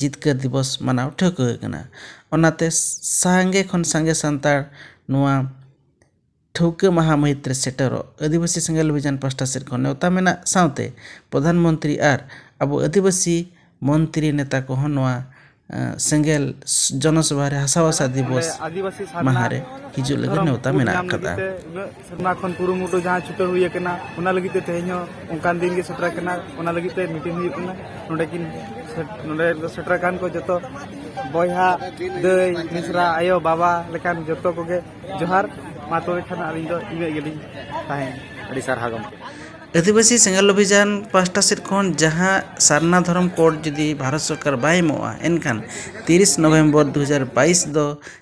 ᱡᱤᱛᱠᱟᱹᱨ ᱫᱤᱵᱚᱥ ᱢᱟᱱᱟᱣ ᱴᱷᱟᱹᱣᱠᱟᱹ ᱟᱠᱟᱱᱟ ᱚᱱᱟᱛᱮ ᱥᱟᱸᱜᱮ ᱠᱷᱚᱱ ᱥᱟᱸᱜᱮ ᱥᱟᱱᱛᱟᱲ ᱱᱚᱣᱟ ᱴᱷᱟᱹᱣᱠᱟᱹ ᱢᱟᱦᱟ ᱢᱟᱹᱦᱤᱛ ᱨᱮ ᱥᱮᱴᱮᱨᱚᱜ ᱟᱹᱫᱤᱵᱟᱹᱥᱤ ᱥᱮᱸᱜᱮᱞ ᱚᱵᱷᱤᱡᱟᱱ ᱯᱟᱥᱴᱟ ᱥᱮᱫ ᱠᱷᱚᱱ ᱱᱮᱣᱛᱟ ᱢᱮᱱᱟᱜ ᱥᱟᱶᱛᱮ ᱯᱨᱚᱫᱷᱟᱱ ᱢᱚᱱᱛᱨᱤ ᱟᱨ ᱟᱵᱚ ᱟᱹᱫᱤᱵᱟᱹᱥᱤ ᱢᱚᱱᱛᱨᱤ ᱱᱮᱛᱟ ᱠᱚᱦᱚᱸ ᱱᱚᱣᱟ ᱥᱮᱸᱜᱮᱞ ᱡᱚᱱᱚ ᱥᱚᱵᱷᱟ ᱨᱮ ᱦᱟᱥᱟ ᱵᱷᱟᱥᱟ ᱫᱤᱵᱚᱥ ᱢᱟᱦᱟ ᱨᱮ ᱦᱤᱡᱩᱜ ᱞᱟᱹᱜᱤᱫ ᱱᱮᱣᱛᱟ ᱢᱮᱱᱟᱜ ᱟᱠᱟᱫᱟ ᱥᱮᱨᱢᱟ ᱠᱷᱚᱱ ᱠᱩᱨᱩᱢᱩᱴᱩ ᱡᱟᱦᱟᱸ ᱪᱷᱩᱴᱟᱹᱣ ᱦᱩᱭ ᱟᱠᱟᱱᱟ ᱚᱱᱟ ᱞᱟᱹᱜᱤᱫ ᱛᱮ ᱛᱮᱦᱮᱧ ᱦᱚᱸ ᱚᱱᱠᱟᱱ ᱫᱤᱱ ᱜᱮ ᱥᱮᱴᱮᱨ ᱟᱠᱟᱱᱟ ᱚᱱᱟ ᱞᱟᱹᱜᱤᱫ ᱛᱮ ᱢᱤᱴᱤᱝ ᱦᱩᱭᱩᱜ ᱠᱟᱱᱟ ᱱᱚᱰᱮ ᱠᱤᱱ ᱱᱚᱰᱮ ᱫᱚ ᱥᱮᱴᱮᱨ ᱟᱠᱟᱱ ᱠᱚ ᱡᱚᱛᱚ ᱵᱚᱭᱦᱟ ᱫᱟᱹᱭ ᱢᱤᱥᱨᱟ ᱟᱭᱳ ᱵᱟᱵᱟ ᱞᱮᱠᱟᱱ ᱡᱚᱛᱚ ᱠᱚᱜᱮ ᱡᱚᱦᱟᱨ ᱢᱟ ᱛᱚᱵᱮ ᱠᱷᱟᱱ ᱟᱹᱞᱤᱧ ᱫᱚ ᱤᱱᱟᱹᱜ ᱜᱮᱞᱤᱧ ᱛᱟᱦᱮᱸᱭᱮᱱᱟ ᱟᱹᱰᱤ ᱥᱟᱨᱦᱟᱣ ᱜᱚᱢᱠᱮ ᱟᱹᱫᱤᱵᱟᱹᱥᱤ ᱥᱮᱸᱜᱮᱞ ᱚᱵᱷᱤᱡᱟᱱ ᱯᱟᱥᱴᱟ ᱥᱮᱫ ᱠᱷᱚᱱ ᱡᱟᱦᱟᱸ ᱥᱟᱨᱱᱟ ᱫᱷᱚᱨᱚᱢ ᱠᱳᱰ ᱡᱩᱫᱤ ᱵᱷᱟᱨᱚᱛ ᱥᱚᱨᱠᱟᱨ ᱵᱟᱭ ᱮᱢᱚᱜᱼᱟ ᱮᱱᱠᱷᱟᱱ ᱛᱤᱨᱤᱥ ᱱᱚᱵᱷᱮᱢᱵᱚᱨ ᱫᱩ ᱦᱟᱡᱟᱨ ᱵᱟᱭᱤᱥ ᱫᱚ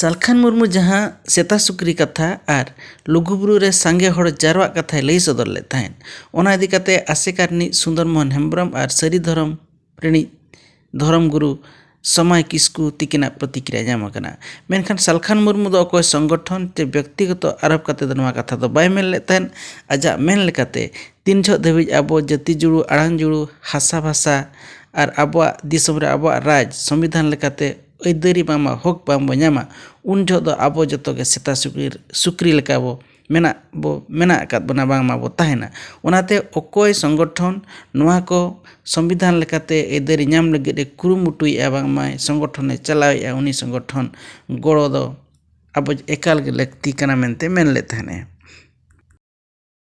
ᱥᱟᱞᱠᱷᱟᱱ ᱢᱩᱨᱢᱩ ᱡᱟᱦᱟᱸ ᱥᱮᱛᱟ ᱥᱩᱠᱨᱤ ᱠᱟᱛᱷᱟ ᱟᱨ ᱞᱩᱜᱩᱵᱩᱨᱩ ᱨᱮ ᱥᱟᱸᱜᱮ ᱦᱚᱲ ᱡᱟᱨᱣᱟᱜ ᱠᱟᱛᱷᱟᱭ ᱞᱟᱹᱭ ᱥᱚᱫᱚᱨ ᱞᱮᱫ ᱛᱟᱦᱮᱸᱫ ᱚᱱᱟ ᱤᱫᱤ ᱠᱟᱛᱮᱫ ᱟᱥᱮᱠᱟ ᱨᱤᱱᱤᱡ ᱥᱩᱱᱫᱚᱨ ᱢᱳᱦᱚᱱ ᱦᱮᱢᱵᱨᱚᱢ ᱟᱨ ᱥᱟᱹᱨᱤ ᱫᱷᱚᱨᱚᱢ ᱨᱤᱱᱤᱡ ᱫᱷᱚᱨᱚᱢ ᱜᱩᱨᱩ ᱥᱚᱢᱟᱭ ᱠᱤᱥᱠᱩ ᱛᱤᱠᱤᱱᱟᱜ ᱯᱨᱚᱛᱤᱠᱨᱤᱭᱟ ᱧᱟᱢ ᱟᱠᱟᱱᱟ ᱢᱮᱱᱠᱷᱟᱱ ᱥᱟᱞᱠᱷᱟᱱ ᱢᱩᱨᱢᱩ ᱫᱚ ᱚᱠᱚᱭ ᱥᱚᱝᱜᱚᱴᱷᱚᱱ ᱥᱮ ᱵᱮᱠᱛᱤᱜᱚᱛᱚ ᱟᱨᱳᱯ ᱠᱟᱛᱮᱫ ᱫᱚ ᱱᱚᱣᱟ ᱠᱟᱛᱷᱟ ᱫᱚ ᱵᱟᱭ ᱢᱮᱱ ᱞᱮᱫ ᱛᱟᱦᱮᱸᱫ ᱟᱡᱟᱜ ᱢᱮᱱ ᱞᱮᱠᱟᱛᱮ ᱛᱤᱱ ᱡᱚᱦᱚᱜ ᱫᱷᱟᱹᱵᱤᱡ ᱟᱵᱚ ᱡᱟᱹᱛᱤ ᱡᱩᱲᱩ ᱟᱲᱟᱝ ᱡᱩᱲᱩ ᱦᱟᱥᱟ ᱵᱷᱟᱥᱟ ᱟᱨ ᱟᱵᱚᱣᱟᱜ ᱫᱤᱥᱚᱢ ᱨᱮ ᱟᱵᱚᱣᱟᱜ ᱨᱟᱡᱽ ᱥᱚᱝᱵᱤᱫᱷᱟᱱ ᱞᱮᱠᱟᱛᱮ ᱟᱹᱭᱫᱟᱹᱨᱤ ᱵᱟᱝᱢᱟ ᱦᱚᱠ ᱵᱟᱝ ᱵᱚ ᱧᱟᱢᱟ ᱩᱱ ᱡᱚᱦᱚᱜ ᱫᱚ ᱟᱵᱚ ᱡᱚᱛᱚ ᱜᱮ ᱥᱮᱛᱟ ᱥᱩᱠᱨᱤ ᱥᱩᱠᱨᱤ ᱞᱮᱠᱟ ᱵᱚ ᱢᱮᱱᱟᱜ ᱵᱚ ᱢᱮᱱᱟᱜ ᱟᱠᱟᱫ ᱵᱚᱱᱟ ᱵᱟᱝᱢᱟ ᱵᱚ ᱛᱟᱦᱮᱱᱟ ᱚᱱᱟᱛᱮ ᱚᱠᱚᱭ ᱥᱚᱝᱜᱚᱴᱷᱚᱱ ᱱᱚᱣᱟ ᱠᱚ ᱥᱚᱝᱵᱤᱫᱷᱟᱱ ᱞᱮᱠᱟᱛᱮ ᱟᱹᱭᱫᱟᱹᱨᱤ ᱧᱟᱢ ᱞᱟᱹᱜᱤᱫ ᱮ ᱠᱩᱨᱩᱢᱩᱴᱩᱭᱮᱜᱼᱟ ᱵᱟᱝᱢᱟᱭ ᱥᱚᱝᱜᱚᱴᱷᱚᱱᱮ ᱪᱟᱞᱟᱣᱮᱜᱼᱟ ᱩᱱᱤ ᱥᱚᱝᱜᱚᱴᱷᱚᱱ ᱜᱚᱲᱚ ᱫᱚ ᱟᱵᱚ ᱮᱠᱟᱞ ᱜᱮ ᱞᱟᱹᱠᱛᱤ ᱠᱟᱱᱟ ᱢᱮᱱᱛᱮ ᱢᱮᱱ ᱞᱮᱫ ᱛᱟᱦᱮᱱᱮ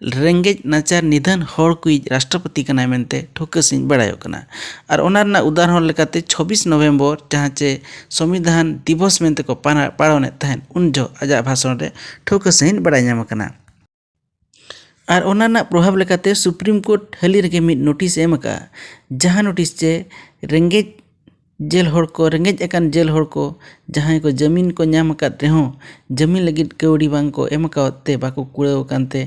ᱨᱮᱸᱜᱮᱡ ᱱᱟᱪᱟᱨ ᱱᱤᱫᱷᱟᱹᱱ ᱦᱚᱲ ᱠᱚᱭᱤᱡ ᱨᱟᱥᱴᱨᱚᱯᱚᱛᱤ ᱠᱟᱱᱟᱭ ᱢᱮᱱᱛᱮ ᱴᱷᱟᱹᱣᱠᱟᱹ ᱥᱟᱺᱦᱤᱡ ᱵᱟᱲᱟᱭᱚᱜ ᱠᱟᱱᱟ ᱟᱨ ᱚᱱᱟ ᱨᱮᱱᱟᱜ ᱩᱫᱟᱦᱚᱨᱚᱱ ᱞᱮᱠᱟᱛᱮ ᱪᱷᱚᱵᱽᱵᱤᱥ ᱱᱚᱵᱷᱮᱢᱵᱚᱨ ᱡᱟᱦᱟᱸ ᱪᱮ ᱥᱚᱝᱵᱤᱫᱷᱟᱱ ᱫᱤᱵᱚᱥ ᱢᱮᱱᱛᱮ ᱠᱚ ᱯᱟᱞᱚᱱᱮᱫ ᱛᱟᱦᱮᱸᱫ ᱩᱱ ᱡᱚᱦᱚᱜ ᱟᱡᱟᱜ ᱵᱷᱟᱥᱚᱱ ᱨᱮ ᱴᱷᱟᱹᱣᱠᱟᱹ ᱥᱟᱺᱦᱤᱡ ᱵᱟᱲᱟᱭ ᱧᱟᱢ ᱟᱠᱟᱱᱟ ᱟᱨ ᱚᱱᱟ ᱨᱮᱱᱟᱜ ᱯᱨᱚᱵᱷᱟᱵᱽ ᱞᱮᱠᱟᱛᱮ ᱥᱩᱯᱨᱤᱢ ᱠᱳᱨᱴ ᱦᱟᱹᱞᱤ ᱨᱮᱜᱮ ᱢᱤᱫ ᱱᱳᱴᱤᱥᱮ ᱮᱢ ᱟᱠᱟᱫᱼᱟ ᱡᱟᱦᱟᱸ ᱱᱳᱴᱤᱥ ᱪᱮ ᱨᱮᱸᱜᱮᱡ ᱡᱮᱞ ᱦᱚᱲ ᱠᱚ ᱨᱮᱸᱜᱮᱡ ᱟᱠᱟᱱ ᱡᱮᱞ ᱦᱚᱲ ᱠᱚ ᱡᱟᱦᱟᱸᱭ ᱠᱚ ᱡᱟᱹᱢᱤᱱ ᱠᱚ ᱧᱟᱢ ᱟᱠᱟᱫ ᱨᱮᱦᱚᱸ ᱡᱟᱹᱢᱤᱱ ᱞᱟᱹᱜᱤᱫ ᱠᱟᱹᱣᱰᱤ ᱵᱟᱝ ᱠᱚ ᱮᱢ ᱠᱟᱣᱟᱫ ᱛᱮ ᱵᱟᱠᱚ ᱠᱩᱲᱟᱹᱣ ᱟᱠᱟᱱ ᱛᱮ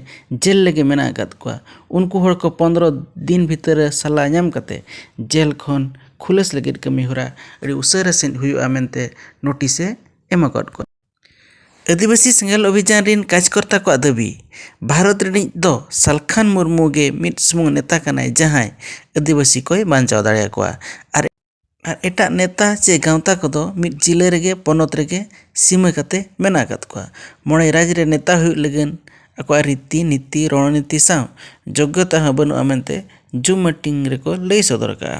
ᱡᱮᱞ ᱨᱮᱜᱮ ᱢᱮᱱᱟᱜ ᱟᱠᱟᱫ ᱠᱚᱣᱟ ᱩᱱᱠᱩ ᱦᱚᱲ ᱠᱚ ᱯᱚᱸᱫᱽᱨᱚ ᱫᱤᱱ ᱵᱷᱤᱛᱟᱹᱨ ᱨᱮ ᱥᱟᱞᱟ ᱧᱟᱢ ᱠᱟᱛᱮᱫ ᱡᱮᱞ ᱠᱷᱚᱱ ᱠᱷᱩᱞᱟᱹᱥ ᱞᱟᱹᱜᱤᱫ ᱠᱟᱹᱢᱤ ᱦᱚᱨᱟ ᱟᱹᱰᱤ ᱩᱥᱟᱹᱨᱟ ᱥᱟᱺᱦᱤᱡ ᱦᱩᱭᱩᱜᱼᱟ ᱢᱮᱱᱛᱮ ᱱᱳᱴᱤᱥᱮ ᱮᱢ ᱟᱠᱟᱫ ᱠᱚᱣᱟ ᱟᱹᱫᱤᱵᱟᱹᱥᱤ ᱥᱮᱸᱜᱮᱞ ᱚᱵᱷᱤᱡᱟᱱ ᱨᱮᱱ ᱠᱟᱡᱽᱠᱚᱨᱛᱟ ᱠᱚᱣᱟᱜ ᱫᱟᱹᱵᱤ ᱵᱷᱟᱨᱚᱛ ᱨᱤᱱᱤᱡ ᱫᱚ ᱥᱟᱞᱠᱷᱟᱱ ᱢᱩᱨᱢᱩ ᱜᱮ ᱢᱤᱫ ᱥᱩᱢᱩᱝ ᱱᱮᱛᱟ ᱠᱟᱱᱟᱭ ᱡᱟᱦᱟᱸᱭ ᱟᱹᱫᱤᱵᱟᱹᱥᱤ ᱠᱚᱭ ᱵᱟᱧᱪᱟᱣ ᱫᱟᱲᱮᱭᱟᱠᱚᱣᱟ ᱟᱨ ᱮᱴᱟᱜ ᱱᱮᱛᱟ ᱪᱮ ᱜᱟᱶᱛᱟ ᱠᱚᱫᱚ ᱢᱤᱫ ᱡᱤᱞᱟᱹ ᱨᱮᱜᱮ ᱯᱚᱱᱚᱛ ᱨᱮᱜᱮ ᱥᱤᱢᱟᱹ ᱠᱟᱛᱮ ᱢᱮᱱᱟᱜ ᱟᱠᱟᱫ ᱠᱚᱣᱟ ᱢᱚᱬᱮ ᱨᱟᱡᱽ ᱨᱮ ᱱᱮᱛᱟ ᱦᱩᱭᱩᱜ ᱞᱟᱹᱜᱤᱫ ᱟᱠᱚᱣᱟᱜ ᱨᱤᱛᱤ ᱱᱤᱛᱤ ᱨᱚᱲ ᱱᱤᱛᱤ ᱥᱟᱶ ᱡᱳᱜᱽᱜᱚᱛᱟ ᱦᱚᱸ ᱵᱟᱹᱱᱩᱜᱼᱟ ᱢᱮᱱᱛᱮ ᱡᱩᱢ ᱢᱤᱴᱤᱝ ᱨᱮᱠᱚ ᱞᱟᱹᱭ ᱥᱚᱫᱚᱨ ᱟᱠᱟᱫᱼᱟ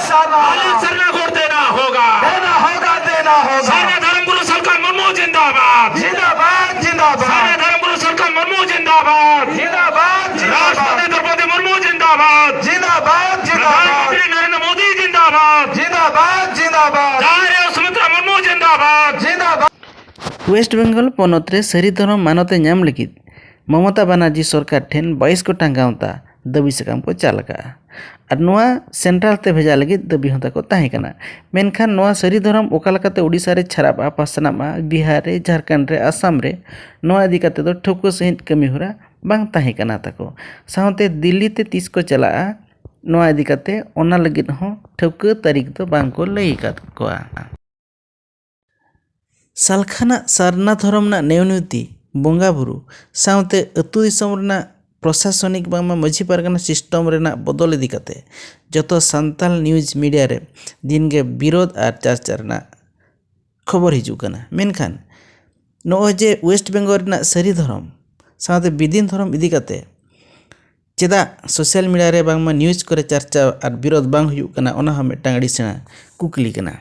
ᱳᱭᱮᱥᱴ ᱵᱮᱝᱜᱚᱞ ᱯᱚᱱᱚᱛ ᱨᱮ ᱥᱟᱹᱨᱤ ᱫᱷᱚᱨᱚᱢ ᱢᱟᱱᱚᱛᱮ ᱧᱟᱢ ᱞᱟᱹᱜᱤᱫ ᱢᱚᱢᱚᱛᱟ ᱵᱟᱱᱟᱨᱡᱤ ᱥᱚᱨᱠᱟᱨ ᱴᱷᱮᱱ ᱵᱟᱭᱤᱥ ᱜᱚᱴᱟᱝ ᱜᱟᱶᱛᱟ ᱫᱟᱹᱵᱤ ᱥᱟᱠᱟᱢ ᱠᱚ ᱪᱟᱞ ᱟᱠᱟᱫᱼᱟ ᱟᱨ ᱱᱚᱣᱟ ᱥᱮᱱᱴᱨᱟᱞ ᱛᱮ ᱵᱷᱮᱡᱟ ᱞᱟᱹᱜᱤᱫ ᱫᱟᱹᱵᱤ ᱦᱚᱸ ᱛᱟᱠᱚ ᱛᱟᱦᱮᱸ ᱠᱟᱱᱟ ᱢᱮᱱᱠᱷᱟᱱ ᱱᱚᱣᱟ ᱥᱟᱹᱨᱤ ᱫᱷᱚᱨᱚᱢ ᱚᱠᱟ ᱞᱮᱠᱟᱛᱮ ᱳᱰᱤᱥᱟ ᱨᱮ ᱪᱷᱟᱨᱟᱜᱼᱟ ᱯᱟᱥᱱᱟᱜᱼᱟ ᱵᱤᱦᱟᱨ ᱨᱮ ᱡᱷᱟᱲᱠᱷᱚᱸᱰ ᱨᱮ ᱟᱥᱟᱢ ᱨᱮ ᱱᱚᱣᱟ ᱤᱫᱤ ᱠᱟᱛᱮᱫ ᱫᱚ ᱴᱷᱟᱹᱣᱠᱟᱹ ᱥᱟᱺᱦᱤᱡ ᱠᱟᱹᱢᱤ ᱦᱚᱨᱟ ᱵᱟᱝ ᱛᱟᱦᱮᱸ ᱠᱟᱱᱟ ᱛᱟᱠᱚ ᱥᱟᱶᱛᱮ ᱫᱤᱞᱞᱤ ᱛᱮ ᱛᱤᱥ ᱠᱚ ᱪᱟᱞᱟᱜᱼᱟ ᱱᱚᱣᱟ ᱤᱫᱤ ᱠᱟᱛᱮᱫ ᱚᱱᱟ ᱞᱟᱹᱜᱤᱫ ᱦᱚᱸ ᱴᱷᱟᱹᱣᱠᱟᱹ ᱛᱟᱹᱨᱤᱠᱷ ᱫᱚ ᱵᱟᱝ ᱠᱚ ᱞᱟᱹᱭ ᱟᱠᱟᱫ ᱠᱚᱣᱟ ᱥᱟᱞᱠᱷᱟᱱᱟᱜ ᱥᱟᱨᱱᱟ ᱫᱷᱚᱨᱚᱢ ᱨᱮᱱᱟᱜ ᱱᱮᱣᱱᱤᱭᱚᱛᱤ ᱵᱚᱸᱜᱟ ᱵᱩᱨᱩ ᱥᱟᱶᱛᱮ ᱟᱹᱛᱩ ᱫᱤᱥᱚᱢ ᱨᱮᱱᱟᱜ ᱯᱨᱚᱥᱟᱥᱚᱱᱤᱠ ᱵᱟᱝᱢᱟ ᱢᱟᱹᱡᱷᱤ ᱯᱟᱨᱜᱟᱱᱟ ᱥᱤᱥᱴᱚᱢ ᱨᱮᱱᱟᱜ ᱵᱚᱫᱚᱞ ᱤᱫᱤ ᱠᱟᱛᱮ ᱡᱚᱛᱚ ᱥᱟᱱᱛᱟᱲ ᱱᱤᱭᱩᱡᱽ ᱢᱤᱰᱤᱭᱟ ᱨᱮ ᱫᱤᱱ ᱜᱮ ᱵᱤᱨᱳᱫ ᱟᱨ ᱪᱟᱨᱪᱟ ᱨᱮᱱᱟᱜ ᱠᱷᱚᱵᱚᱨ ᱦᱤᱡᱩᱜ ᱠᱟᱱᱟ ᱢᱮᱱᱠᱷᱟᱱ ᱱᱚᱜᱼᱚᱭ ᱡᱮ ᱳᱭᱮᱥᱴ ᱵᱮᱝᱜᱚᱞ ᱨᱮᱱᱟᱜ ᱥᱟᱹᱨᱤ ᱫᱷᱚᱨᱚᱢ ᱥᱟᱶᱛᱮ ᱵᱤᱫᱤᱱ ᱫᱷᱚᱨᱚᱢ ᱤᱫᱤ ᱠᱟᱛᱮ ᱪᱮᱫᱟᱜ ᱥᱳᱥᱟᱞ ᱢᱤᱰᱤᱭᱟ ᱨᱮ ᱵᱟᱝᱢᱟ ᱱᱤᱭᱩᱡᱽ ᱠᱚᱨᱮ ᱪᱟᱨᱪᱟ ᱟᱨ ᱵᱤᱨᱳᱫ ᱵᱟᱝ ᱦᱩᱭᱩᱜ ᱠᱟᱱᱟ ᱚᱱᱟ ᱦᱚᱸ ᱢᱤᱫᱴᱟᱝ ᱟᱹᱰᱤ ᱥᱮᱬᱟ ᱠᱩᱠᱞᱤ ᱠᱟᱱᱟ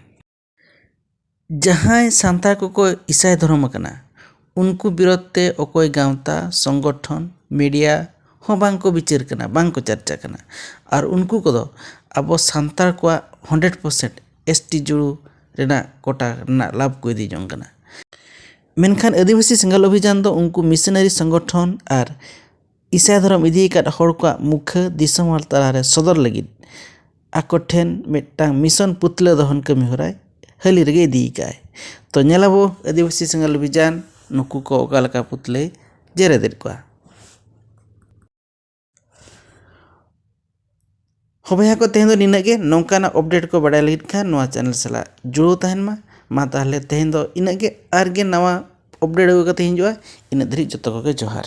ᱡᱟᱦᱟᱸᱭ ᱥᱟᱱᱛᱟᱲ ᱠᱚᱠᱚ ᱤᱥᱟᱭ ᱫᱷᱚᱨᱚᱢ ᱟᱠᱟᱱᱟ ᱩᱱᱠᱩ ᱵᱤᱨᱚᱫᱷ ᱛᱮ ᱚᱠᱚᱭ ᱜᱟᱶᱛᱟ ᱥᱚᱝᱜᱚᱴᱷᱚᱱ ᱢᱤᱰᱤᱭᱟ ᱦᱚᱸ ᱵᱟᱝ ᱠᱚ ᱵᱤᱪᱟᱹᱨ ᱠᱟᱱᱟ ᱵᱟᱝ ᱠᱚ ᱪᱟᱨᱪᱟ ᱠᱟᱱᱟ ᱟᱨ ᱩᱱᱠᱩ ᱠᱚᱫᱚ ᱟᱵᱚ ᱥᱟᱱᱛᱟᱲ ᱠᱚᱣᱟᱜ ᱦᱚᱱᱰᱮᱰ ᱯᱟᱨᱥᱮᱱᱴ ᱮᱥ ᱴᱤ ᱡᱩᱲᱩ ᱨᱮᱱᱟᱜ ᱠᱚᱴᱟ ᱨᱮᱱᱟᱜ ᱞᱟᱵᱷ ᱠᱚ ᱤᱫᱤ ᱡᱚᱝ ᱠᱟᱱᱟ ᱢᱮᱱᱠᱷᱟᱱ ᱟᱹᱫᱤᱵᱟᱹᱥᱤ ᱥᱮᱸᱜᱮᱞ ᱚᱵᱷᱤᱡᱟᱱ ᱫᱚ ᱩᱱᱠᱩ ᱢᱤᱥᱚᱱᱟᱨᱤ ᱥᱚᱝᱜᱚᱴᱷᱚᱱ ᱟᱨ ᱤᱥᱟᱹᱭ ᱫᱷᱚᱨᱚᱢ ᱤᱫᱤ ᱟᱠᱟᱫ ᱦᱚᱲ ᱠᱚᱣᱟᱜ ᱢᱩᱠᱷᱟᱹ ᱫᱤᱥᱚᱢ ᱦᱚᱲ ᱛᱟᱞᱟ ᱨᱮ ᱥᱚᱫᱚᱨ ᱞᱟᱹᱜᱤᱫ ᱟᱠᱚ ᱴᱷᱮᱱ ᱢᱤᱫᱴᱟᱝ ᱢᱤᱥᱚᱱ ᱯᱩᱛᱞᱟᱹ ᱫᱚᱦᱚᱱ ᱠᱟᱹᱢᱤ ᱦᱚᱨᱟᱭ ᱦᱟᱹᱞᱤ ᱨᱮᱜᱮ ᱤᱫᱤ ᱟᱠᱟᱫᱼᱟᱭ ᱛᱚ ᱧᱮᱞᱟᱵᱚᱱ ᱟᱹᱫᱤᱵᱟᱹᱥᱤ ᱥᱮᱸᱜᱮᱞ ᱚᱵᱷᱤᱡᱟᱱ ᱱᱩᱠᱩ ᱠᱚ ᱚᱠᱟ ᱞᱮᱠᱟ ᱯᱩᱛᱞᱟᱹᱭ ᱡᱮᱨᱮᱫᱮᱫ ᱠᱚᱣᱟ ᱦᱚᱸ ᱵᱚᱭᱦᱟ ᱠᱚ ᱛᱮᱦᱮᱧ ᱫᱚ ᱱᱤᱱᱟᱹᱜ ᱜᱮ ᱱᱚᱝᱠᱟᱱᱟᱜ ᱚᱯᱰᱮᱴ ᱠᱚ ᱵᱟᱰᱟᱭ ᱞᱟᱹᱜᱤᱫ ᱠᱷᱟᱱ ᱱᱚᱣᱟ ᱪᱮᱱᱮᱞ ᱥᱟᱞᱟᱜ ᱡᱩᱲᱟᱹᱣ ᱛᱟᱦᱮᱱ ᱢᱟ ᱢᱟ ᱛᱟᱦᱚᱞᱮ ᱛᱮᱦᱮᱧ ᱫᱚ ᱤᱱᱟᱹᱜ ᱜᱮ ᱟᱨ ᱜᱮ ᱱᱟᱣᱟ ᱚᱯᱰᱮᱴ ᱟᱹᱜᱩ ᱠᱟᱛᱮᱫ ᱤᱧ ᱦᱤᱡᱩᱜᱼᱟ ᱤᱱᱟᱹᱜ ᱫᱷᱟᱹᱨᱤᱡ ᱡᱚᱛᱚ ᱠᱚᱜᱮ ᱡᱚᱦᱟᱨ